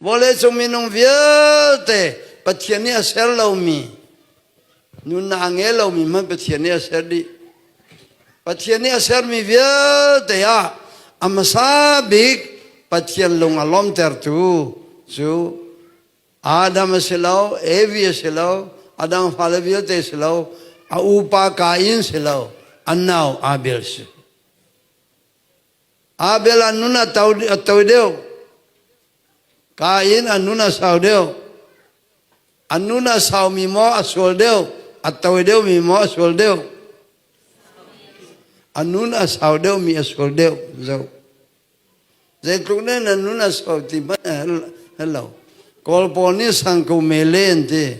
vawleicung minung vialte Pathian nih a ser lomi nunna a ngei lomi hmanh Pathian nih a ser dih Pathian nih a sermi vialte ah a hmasa bik Pathian lung a lawmtertu cu Adam a si lo Evi a si lo a dang fale vialte si lo a upa Kain si lo a nau Abel si Abel an nun a to a to deuh. Kain an nun a sau deuh. An nun a saumi maw a sual deuh. A to deuhmi maw a sual deuh. A nun a sau deuhmi a sual deuh. Zoh. Zeitluk nih nan nun a sau ti hmanh hal lo. Kawl pawl nih sang ko mele an ti.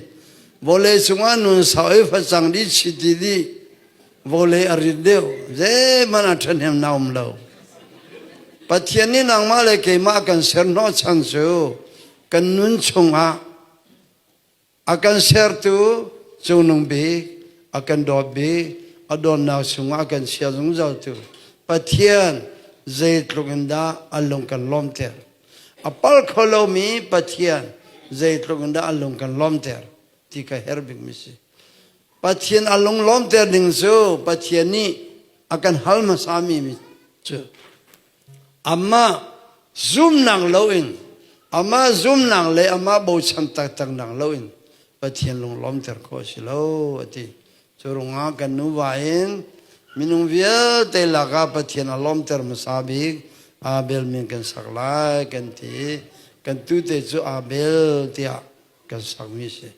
Vawlei cungah nun sau i facang dih chiti dih. vole a rit deuh zeihmanh a ṭhahnem na um lo Pathian nih nangmah le keimah kan ser hnawh chan cu kan nun chungah a kan sertu cungnung bik a kan dawt bik a dawtnak chungah a kan sial zungzaltu Pathian zeitluk in dah an lung kan lawmter a pal kho lomi Pathian zeitluk in dah an lung kan lawmter ti ka herh bikmi si Pathian a lunglawmter ding cu Pathian nih a kan hal hmasami mi cu amah zumnak loin amah zumnak le amah bochan taktaknak loin Pathian lunglawmter khawh a si lo a ti. Cu ruangah kan nuva in minung vialte lakah Pathian a lawmter hmasa bik Abel min kan sak lai kan ti i kan tute cu Abel tiah kan sakmi a si.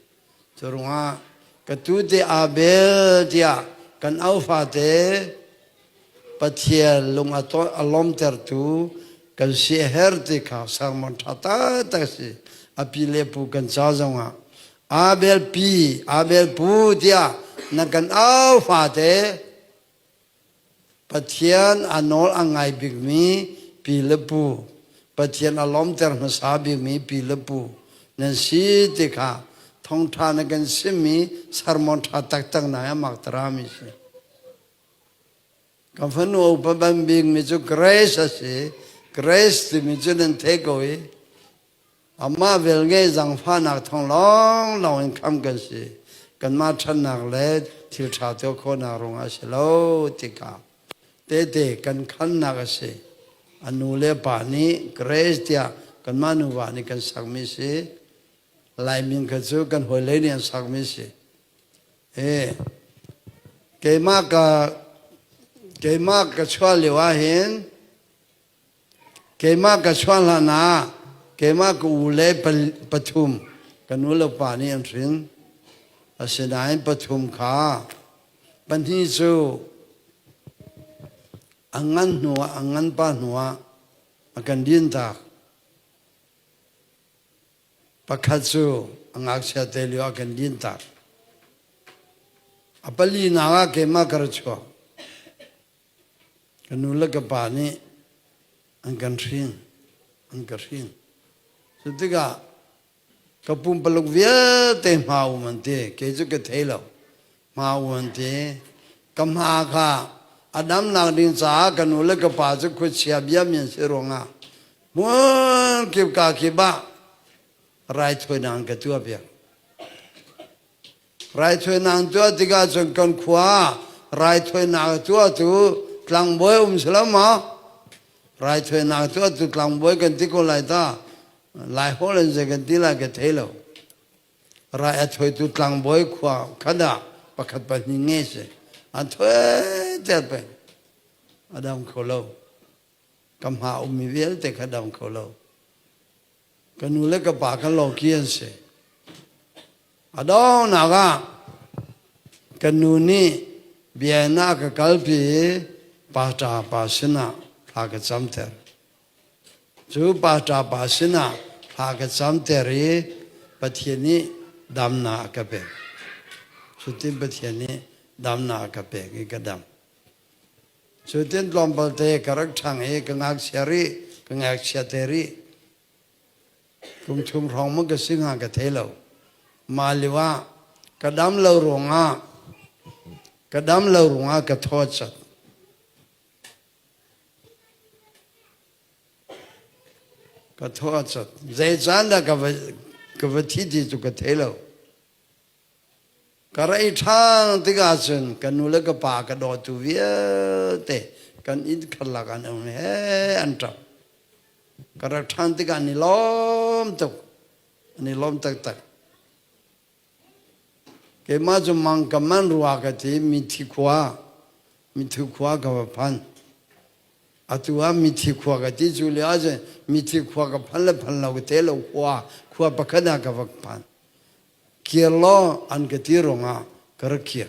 Cu ruangah ka tu te Abel tiah kan au fate Pathian lung a lawmtertu kan si a her ti kha sermon ṭha taktak si a pi le pu kan ca zongah Abel pi Abel pu tiah na kan au fate Pathian a nawl a ngai bikmi pi le pu, Pathian a lawmter hmasa bikmi pi le pu nan si ti kha thawngṭha na kan simmi sermon ṭha taktak na a mak tarami a si. Kan fanu upa ban bikmi cu grace a si. Grace timi cu nan thei ko i Amah velnge zangfahnak thawng lawng lawng in khamh kan si. Kanmah ṭhannak le thil ṭha tuah khawhnak ruangah a si lo tika tehte kan khamnak a si. A nu le pa nih grace tiah kanmah nuva nih kan sakmi si. Laimin kha cu kan hawile nih an sakmi si. Eh, keimah ka keimah ka chuah lio ahhin Keimah ka chuah hlan ah keimah ka u le pathum kan u le pa nih an hrin. Asinain pathum kha pahnih cu an ngan hnuah an ngan pa hnuah a kan dintak. Pakhat cu a ngakchia te lio a kan dintak. A palinak ah keimah ka ra chuak. Ka nu le ka pa nih an kan hrin, an ka hrin. Cu tikah ka pumpaluk vialte hma um an ti. Kei cu ka thei lo. Hma um an ti. Ka hma kha a damnak ding caah ka nu le ka pa cu khuachia bia mi an si ruangah hmun kip ka kip ah raithawinak an ka tuah piak. Raithawinak tuah tikah cun kan khua raithawinak tuah cu tlangbawi um si lo maw? Raithawinak tuah cu tlangbawi kan ti ko lai ta. Lai holh in zei kan ti lai ka thei lo. Rai a thawitu tlangbawi khua khat ah pakhat pahnih ngei si. A thoi ter peng. A dam kho lo. ka hma ummi vialte ka dang kho lo ka nu le ka pa kan loki an si a donghnak ah kan nu nih bia in a ka kalpi i paṭa pa sinah thla ka camter cu paṭa pa sinah thla ka camter i pathian nih damnak a ka pek cutin pathian nih damnak a ka pek i ka dam Cu tin tlawmpalte ka rak ṭhang i ka ngakchia rih, ka ngakchiate rih. Kum thum hrawng maw ka si hnga ka thei lo. Mah lio ah ka dam lo ruangah ka dam lo ruangah ka thawchat. Ka thawchat. Zei caan dah ka va, ka va thi ti cu ka thei lo. Ka rei ṭhan tikah cun ka nu le ka pa ka dawtu vialte kan inn khar lakan um he an ṭap. Ka rak ṭhan tikah ni lawm tuk, ni lawm taktak. Keimah cu mang ka man rua ka ti mithi khua, mithi khua ka va phan. Atu ah mithi khua ka ti cu lio ah cun mithi khua ka phan le phan lo te lo khua, khua pakhat ah ka va phan. Kir law an ka ti ruangah ka rak kir.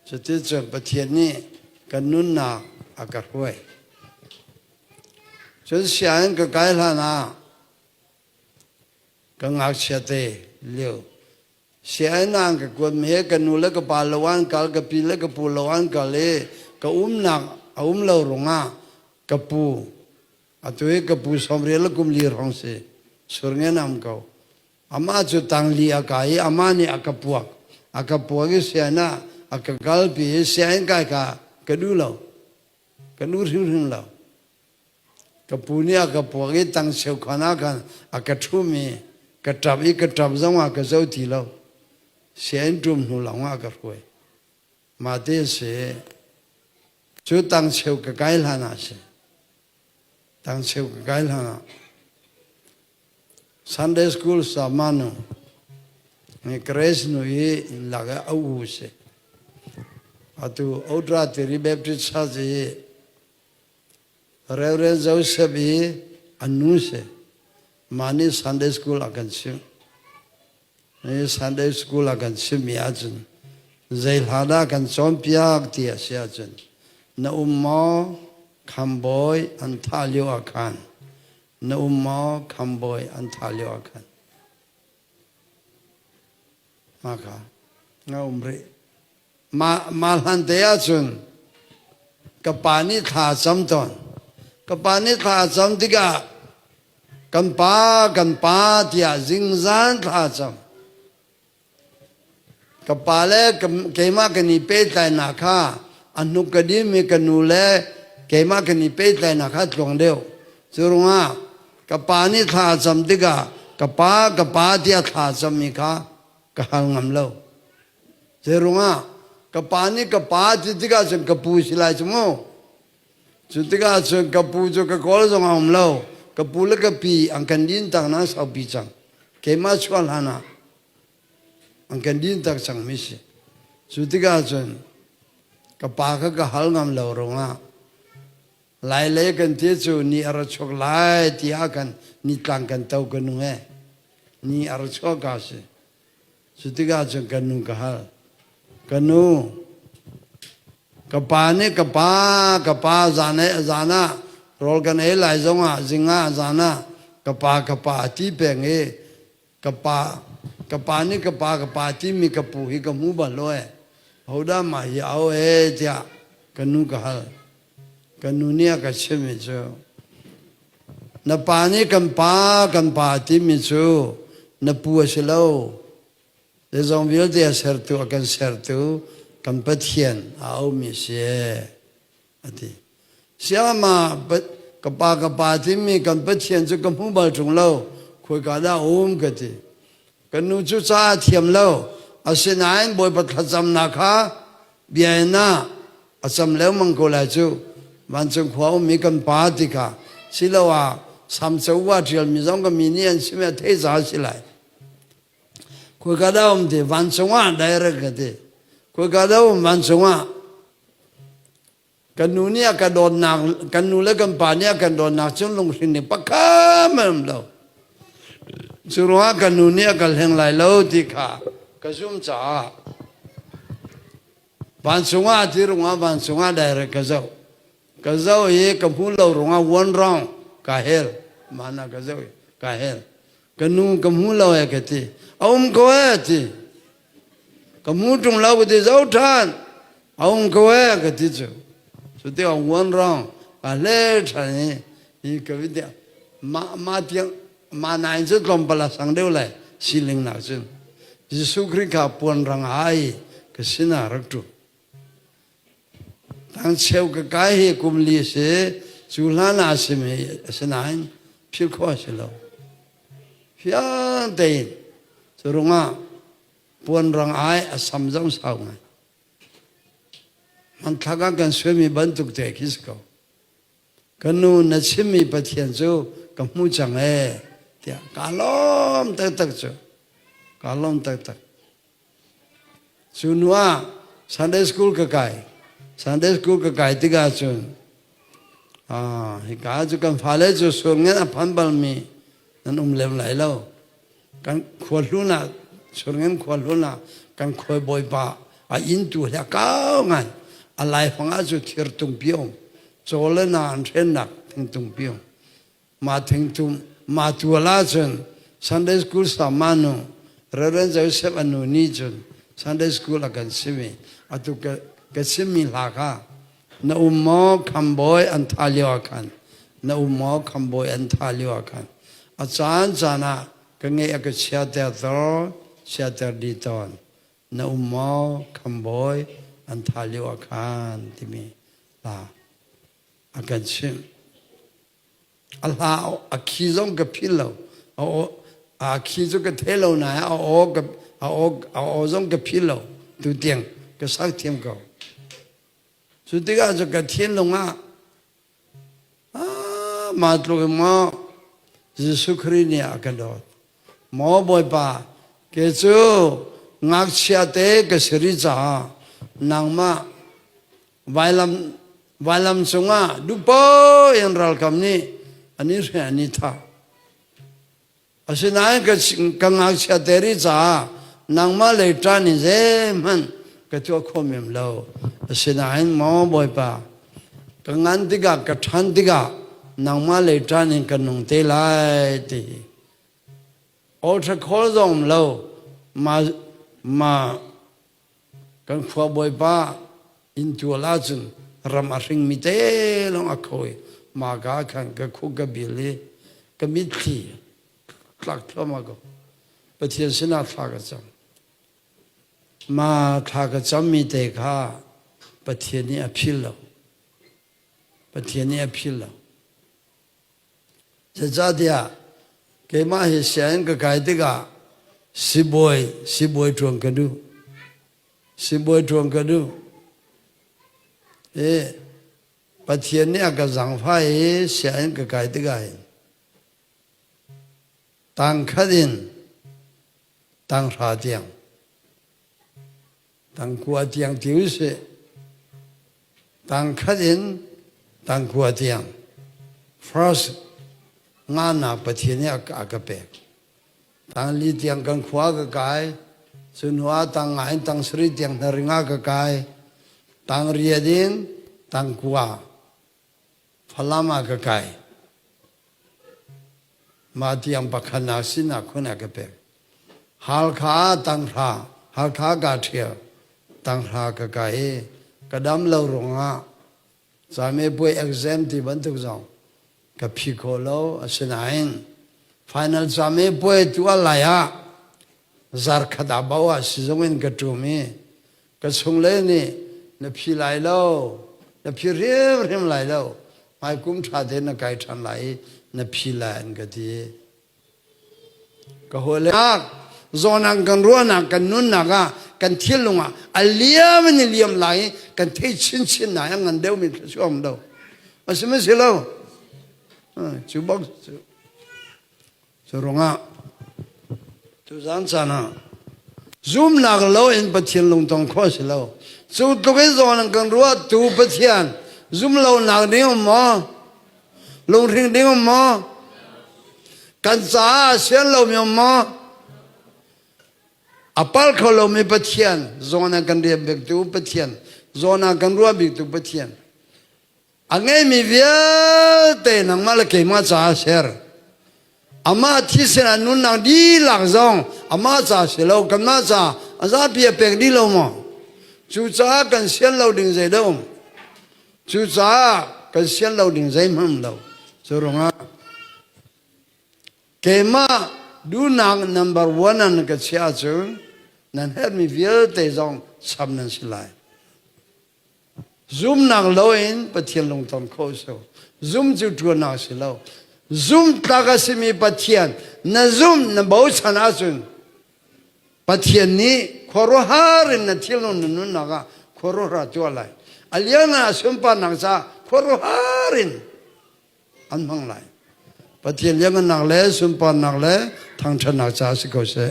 Cuticun Pathian nih kan nunnak a ka hruai. Cun sianginn ka kai hlan ah ka ngakchia te lio sianginn ah ka kuatmi he ka nu le ka pa lo an kal ka pi le ka pu lo an kal i ka umnak a um lo ruangah ka pu Atu i ka pu Sawmrial a kum li hrawng si, sur ngenam ko. Amah cu tangli a kai i amah nih a ka puak. A ka puak i sian ah a ka kalpi i sianginn kai kha ka duh lo. Ka duh hrimhrim lo. Ka pu nih a ka puak i tang cheu khan ah khan a ka ṭhum i ka ṭap i ka ṭap zongah ka zo ti lo. Sianginn ṭum hnu lawngah a ka hruai. Mate si cu tang cheu ka kai hlan ah si tang cheu ka kai hlan ah Sunday school sa manu Grace nu i lak a u si atu outra tiri Baptist church i Reverend Joseph i anu si mani Sunday school a kan si Sunday school ah kan simi ahcun zei hla dah kan cawnpiak ti a si ahcun na um maw khambawi an thah lio ah khan na um maw khambawi an thah lio ah khan hma kha nga um rih Mah hlante ahcun ka pa nih thla a cam tawn. Ka pa nih thla a cam tikah kan pa, kan pa tiah zingzan thla a cam. Ka pa le keimah kan i pehtlainak kha a hnuk ka dim i ka nu le keimah kan i pehtlainak kha tluang deuh. Cu ruangah ka pa nih thla a cam tikah ka pa, ka pa tiah thla a cam mi kha ka hal ngam lo. Zei ruangah? Ka pa nih ka pa a ṭit tikah cun ka pu si lai cu mu. Cu tikah cun ka pu cu ka kawl zong a um lo. Ka pu le ka pi an kan dintak na saupi cang. Keimah chuah hlan ah an kan dintak cangmi si. Cu tikah cun ka pa kha ka hal ngam lo ruangah lailei kan ti cu ni a ra chuak lai tiah kan nitlang kan to ka nung ee. Ni a ra chuak ka si. Cu tikah cu ka nu ka hal. Ka nu, ka pa nih ka pa ka pa zan ah zan ah rawl kan ei lai zong ah zing ah zan ah ka pa ka pa a ti peng i ka pa ka pa nih ka pa ka pa timi ka pu hi ka hmu bal lo e. Hodah mah hi a o e tiah ka nu ka hal. Kan nu nih a ka chimhmi cu na pa nih kan pa kan pa timi cu na pu a si lo zeizong vialte a sertu a kan sertu kan Pathian a aumi si a ti siamah ka pa ka pa timi kan Pathian cu ka hmu bal ṭung lo khoika dah a um ka ti Kan nu cu ca a thiam lo, asinain Bawipa thlacamnak kha bia in ah a cam lengmang ko lai cu. Vancung khua ummi kan Pa tikah siloah samco va ṭialmi zong kan mi nih an si mi ah theizah a si lai. Khoika dah a um ti, vancung ah direct ka ti. Khoika dah a um, vancung ah. kan nu nih a kan dawtnak kan nu le kan pa nih a kan dawtnak cun lunghrin ning pakhat an um lo cu ruangah kan nu nih a kan hleng lai lo ti kha ka zumh caah van chungah ti rungah van chungah direct ka zoh ka zoh i ka hmuh lo rungah one round ka hel mana ka zoh i ka hel ka nu ka hmu lo e ka ti a um ko e ti ka hmu ṭung lo ka ti zo ṭhan a um ko e ka ti cu cu ti a uan rong a le ṭhan i hi ka vi ti ma ma tiang ma nai cu tlawmpal a sang deuh lai siling nak cun Jesuh Khrih kha puan rang ai ka sinah rak ṭu Tangcheu ka kai hi kum li a si. Cu hlan ah a sim hi a si nain philh khawh a si lo. Fiang tein cu rungah puanrang ai a sam zong sau ngai. Hmanthlak ah kan suaimi bantuk te khi si ko. Ka nu na chimmi Pathian cu ka hmu cang ee tiah ka lawm taktak cu. Ka lawm taktak. Cu hnu ah Sunday school ka kai. Sunday school ka kai tikah cun aa, hika cu kan fale cu surngen a phan balmi nan um lem lai lo. Kan khuahlun ah, surngen khuahlun ah kan khuai bawipa a intu le a kau ngai. A laifang ah cu thir tung pi a um. Caw le na an hrennak thing tung pi a um. ma thing tum ma tu la cun Sunday school sa ma nu Reverend Joseph anu ni cun Sunday school a kan sim i atu ka ka sim mi hla kha na um maw khambawi an tha lio ah khan na um maw khambawi an tha lio ah khan a caan caan ah ka ngeih a ka chia ter tor chia ter di ton na um maw khambawi an tha lio ah khan timi hla a kan sim A hla a khi zong ka phil lo. A aw a khi cu ka the lo nain a aw ka a aw a aw zong ka phil lo. Tu tiang ka sang thiam ko. Cu tikah cu ka thinlung ah ah mah tluk in maw Jesuh Khrih nih a ka dawt. Maw Bawipa, ke cu ngakchia te ka si rih caah nangmah vailam vailam cungah duhpo in ralkam nih an i hre an i tha asinain ka ngakchia te ri caah nangmah lei ṭan in zeihmanh ka tuah khawm em lo asinain maw bawipa ka ngan tikah ka ṭhan tikah nangmah lei ṭan in ka nung te lai ti olṭha khawl zong lo ma ma Kan khua bawipa inn tual ahcun ram a hringmi te lawng a kho i maka khan ka khuk ka bil i ka mitthli tlak thluahmah ko Pathian sinah thla ka cam ma thla ka cammi te kha Pathian nih a phil lo Pathian nih a phil lo Zeicahtiah keimah hi sianginn ka kai tikah sibawi sibawi ṭuan ka duh. Sibawi ṭuan ka duh. Hi Pathian nih a ka zaangfah i sianginn ka kai tikah hin tangkhat in tanghra tiang Tangkua tiang ti usih. Tangkhat in tangkua tiang. First, nganak Pathian nih a ka pek. Tangli tiang kan khua ka kai. Sunua tang nga in tang sari tiang hnaring a ka kai. Tang riat in tangkua. Falam ah ka kai. Mah tiang pakhat na sinah khun a ka pek. Halkha tanghra, Halkha ka ṭhial, tanghra ka kai i ka dam lo ruangah came puai exam ti bantuk zong ka phi kho lo. Asinain final came puai tuah lai ah zarkhat ah bao ah sizung in ka ṭum i Ka chungle nih na phi lai lo, na phi hrimhrim lai lo, hmaikum ṭha tein na kai ṭhan lai i na phi lai an ka ti. Ka hawile zawnak kan ruahnak kan nunnak ah kan thinlung ah a liam in a liam lai i kan thei chinchin lai a ngan deuhmi thluachuah um lo. A sihmanh si lo. Cu bak cu Curungah tuzan caan ah zumnak lo in Pathian lungtong kho si lo cu tluk in zawn an kan ruah tu Pathian zum lo nak ding um maw lungring ding um maw kan caah sian lo mi um maw apal kho lo mi Pathian zawn an kan rian bik tu Pathian zawn ah kan ruah bik tu Pathian a ngeimi vialte nangmah le keimah caah ser amah thisen a nunnak dihlak zong amah ca si lo kanmah ca a zapi a pek dih lo maw cucaah kan sian lo ding zei lo cucaah kan sian lo ding zeihmanh lo cu rungah keimah duhnak number one nan ka chiah cu nan herhmi vialte zong sam nan si lai Zumnak lo in Pathian lungton kho sau. Zum cu ṭuannak si lo. Zumhtlak a simi Pathian na zumh na bochan ahcun Pathian nih khuaruahhar in na thilnung na nunnak ah khuaruahhar a tuah lai. A lianngan a sunparnak caah khuaruahhar in an hmang lai. Pathian lianngannak le sunparnak le thangṭhatnak caah si ko seh.